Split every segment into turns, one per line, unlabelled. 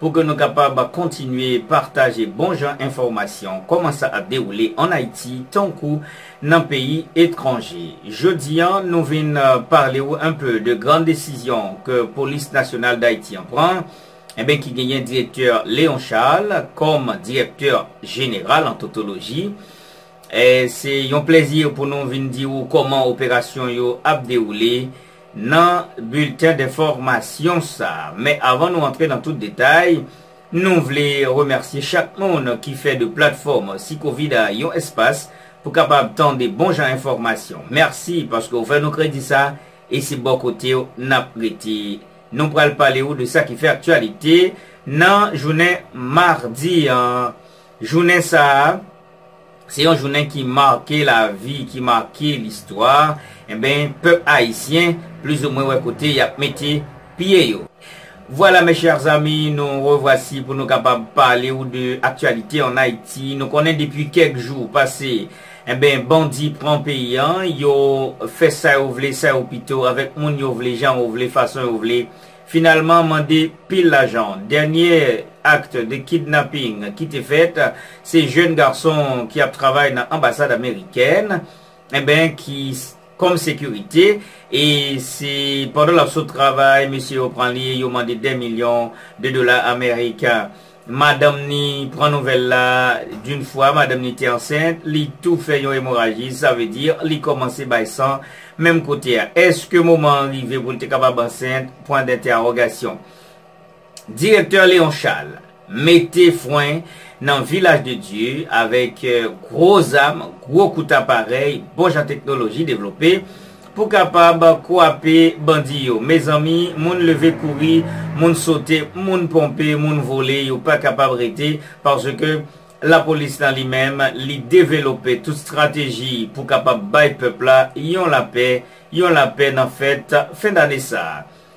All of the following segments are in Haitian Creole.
Pou ke nou kapab kontinye pataje bon jan enfòmasyon kòman sa ap dewoule an Ayiti tankou nan peyi etranje. Jodi an nou vin pale ou un peu de gran desizyon ke Polis Nasyonal Dayiti an pran enben ki genyen Direktè Léon Charles kòm Direktè Jeneral an totoloji. Se yon plèzi pou nou vin di ou kòman operasyon yo ap dewoule. nan bilten denfòmasyon sa. Men avan nou antre nan tout detay, nou vle remèsye chak moun ki fè de platfòm Sikovid a yon espas pou kapab tande bon jan enfòmasyon. Mèsi paske ou fè nou kredi sa e se bò kote w n ap rete. Nou pral pale ou de sa ki fè aktyalite nan jounen madi an. Jounen sa. Se yon jounen ki make lavi, ki make listwa, enben pèp ayisyen plizoumwen wè kote y ap mete pye yo. Vwala mes chers amis, nou revwasi pou nou kapab pale ou de aktyalite an Ayiti. Nou konnen depi kèk jou pase, enben bandi pran peyi an, yo fè sa yo vle, sa yo pito, avèk moun yo vle, jan yo vle, fason yo vle, Finalman mande pil lajan. Dènye acte de kidnapping ki te fèt se jèn gason ki ap travay nan anbasad amerikèn enben ki kòm sekirite e se pandan lap sot travay mesye yo pran li yo mande 2 milyon de dola ameriken. Madanm ni pran nouvèl la d'une fwa madanm ni te ansent li tou fè yon emoraji sa vle di li kòmanse bay san menm kote a eske moman an rive pou l te kapab ansent pwen dentèawogasyon Direktè Leon Charles mete fwen nan Vilaj de Dye avèk gwo zam gwo kout aparèy bon jan teknoloji devlope Pou kapab kwape bandi yo. Mezanmi moun leve kouri, moun sote, moun ponpe, moun vole yo pa kapab rete paske lapolis lan li menm li develope tout strateji pou kapab bay pèp la yon lapè, yon lapè nan fèt fen dane sa.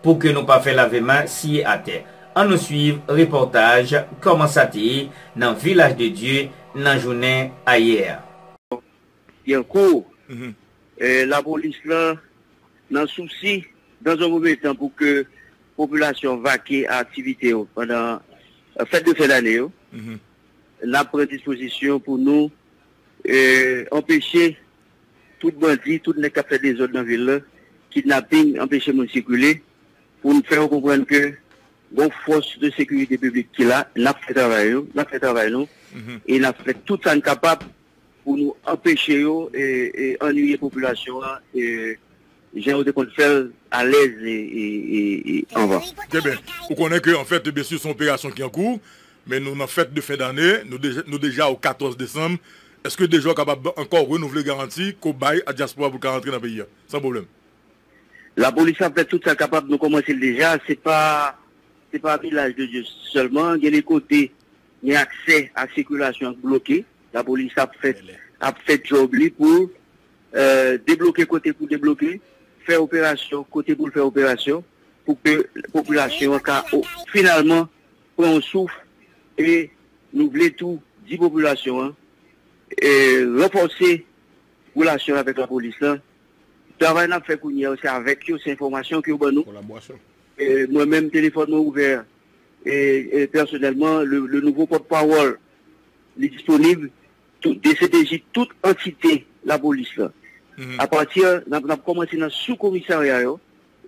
Pou ke nou pa fè lave men siye atè, an nou swiv repòtaj Kòman sa te ye nan Vilaj de Dye nan jounen ayè.
Yankou, lapolis lan nan sousi dans un premier temps pou ke popilasyon vake a aktivite yo pandan fèt de fen dane yo, n ap pran dispozisyon pou nou anpeche. Tout bandi, tout nèg kap fè dezòd nan vil la, kidnaping, anpeche moun sikile, pou n fè yo konprann ke gon fòs de sekirite piblik ki la, nap fè travay yo, nap fè travay nou, e nap fè tout sa n kapab pou nou anpeche yo annuiye popilasyon an. Jan ou te konn fè l alèz anvan. Eben, ou konnen
ke anfèt e byensi se yon operasyon ki an kou, men nou nan fèt de fen dane, nou deja o 14 desanm, èske deja ou kapab ankò renouvle garanti ke w bay a dyaspora pou l ka rantre nan peyi a san pwoblèm?
Lapolis ap fè tout sa l kapab, nou kòmanse l deja, se pa se pa Vilaj de Dye sèlman, gen de kote men aksè a sikilasyon bloke, lapolis ap fè ap fè djòb li pou Debloke kote pou debloke, fè operasyon kote pou l fè operasyon pou ke popilasyon an ka finalman pran yon souf e nou vle tou di popilasyon an ranfòse relasyon l avèk lapolis lan. Travay n ap fè kounye a yo se avèk yo, se enfòmasyon ke yo ban nou. Mwen menm telefòn mwen ouvè pèsonèlman, le nouvo pòtpawòl li disponib Dcpj tout antite lapolis la apati nap komanse nan sou komisarya yo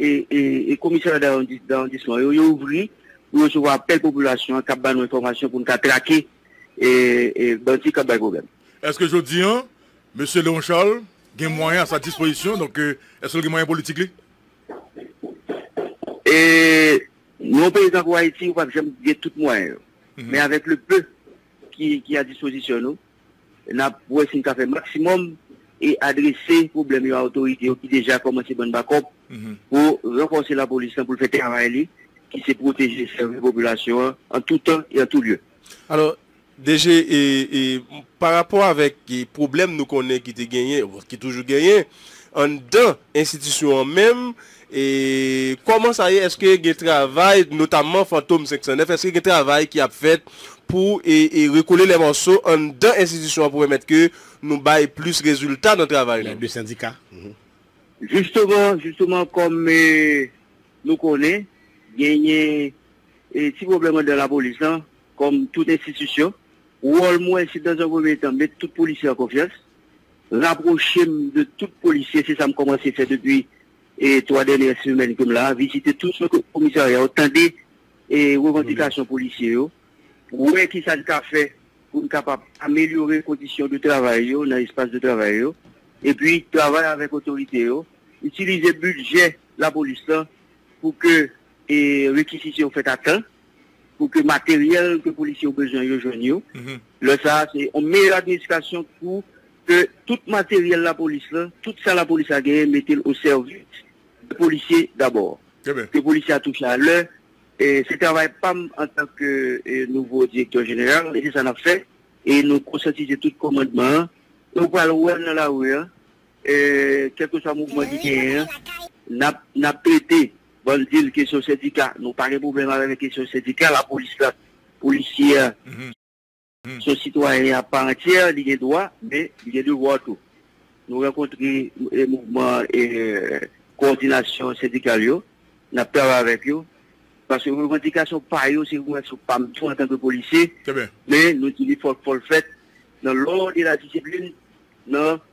e komisarya dawondisman yo yo ouvri pou yo sou apèl popilasyon an kap ba nou enfòmasyon pou nou ka trake bandi kap bay pwoblèm. Eske jodi an
mesye Leon Charles gen mwayen a sa dispozisyon donk eske l gen mwayen politik li?
Yon peyi tankou ayiti ou pap janm gen tout mwayen yo men avèk le peu ki a dispozisyon nou, n ap wè si n ka fè maksimòm e adrese pwoblèm yo a otorite yo ki deja kòmanse ban n bakòp pou ranfòse lapolis lan pou l fè travay li ki se pwoteje e sèvi popilasyon an an tou tan e an tou lye. Alò,
DG, pa rapò avèk pwoblèm nou konnen ki te genyen, ki toujou genyen, anndan enstitisyon an menm, E kòman sa ye eske gen travay notamman fantom 509 eske gen travay ki ap fèt pou e rekole lè mòso anndan enstitisyon an pou pèmèt ke nou bay plis rezilta nan travay nou.
Jisteman
jisteman kòm e nou konnen genyen e ti pwoblèm anndan lapolis lan kòm tout enstitisyon wòl mwen se dan an premye tan met tout polisye an konfyans Rapwoche m de tout polisye, se sa m kòmanse fè depi 3 dènyè semèn ke m la a, vizite tout komisarya yo, tande revandikasyon polisye yo, wè ki sa n ka fè pou n kapab amelyore kondisyon de travay yo nan espas de travay yo, epi travay avèk otorite yo, itilize bidjè lapolis lan pou ke rekizisyon fèt a tan. pou ke materyèl ke polisye yo bezwen yo jwenn yo, lè sa a se yon meyè administrasyon pou ke tout materyèl lapolis la, tout sa lapolis la genyen mete l o sèvis de polisye dabò. Ke polisye a touche a lè, se travay pa m antan ke nouvo direktè jeneral e se sa n ap fè e nou konsyantize tout kòmandman an e ou pral wè l nan lari a, kèlkeswa mouvman ki genyen an, n ap trete Bann dil kesyon sendika nou pa gen pwoblèm avè men kesyon sendika la polis la polisye a son sitwayen a pa antyè li gen dwa men li gen devwa tou nou rankontre e mouvman e kowòdinasyon sendikal yo nap travay avèk yo paske revandikasyon pa yo se revandikasyon pa m tou antanke polisye men nou di li fòk fòl fèt nan lòd e la disiplin nan.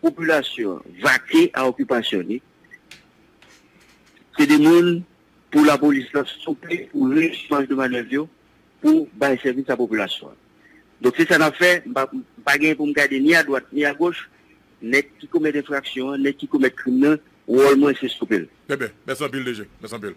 Popilasyon vake a okipasyon li. Se de moun pou lapolis la souple pou rejis maj de manèv yo pou bay sèvis a popilasyon an. Donk se sa n ap fè, m pa genyen pou m gade ni adwat ni agoch, nèg ki komèt enfraksyon an, nèg ki komèt krim nan, wòl mwen se stope l. Bebe merci anpil DG
merci anpil.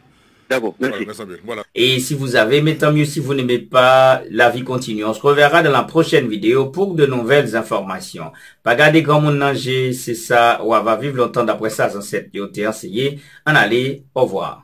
D'accord merci. Merci
anpil voilà. Et si
vous avez
aimé tant mieux si vous n'aimez pas la vie continue on se reverra dans la prochaine vidéo pour de nouvelles informations pa gade granmoun nan je se sa wa va viv lontan d'après sa zansèt yo te anseye ann ale au revoir.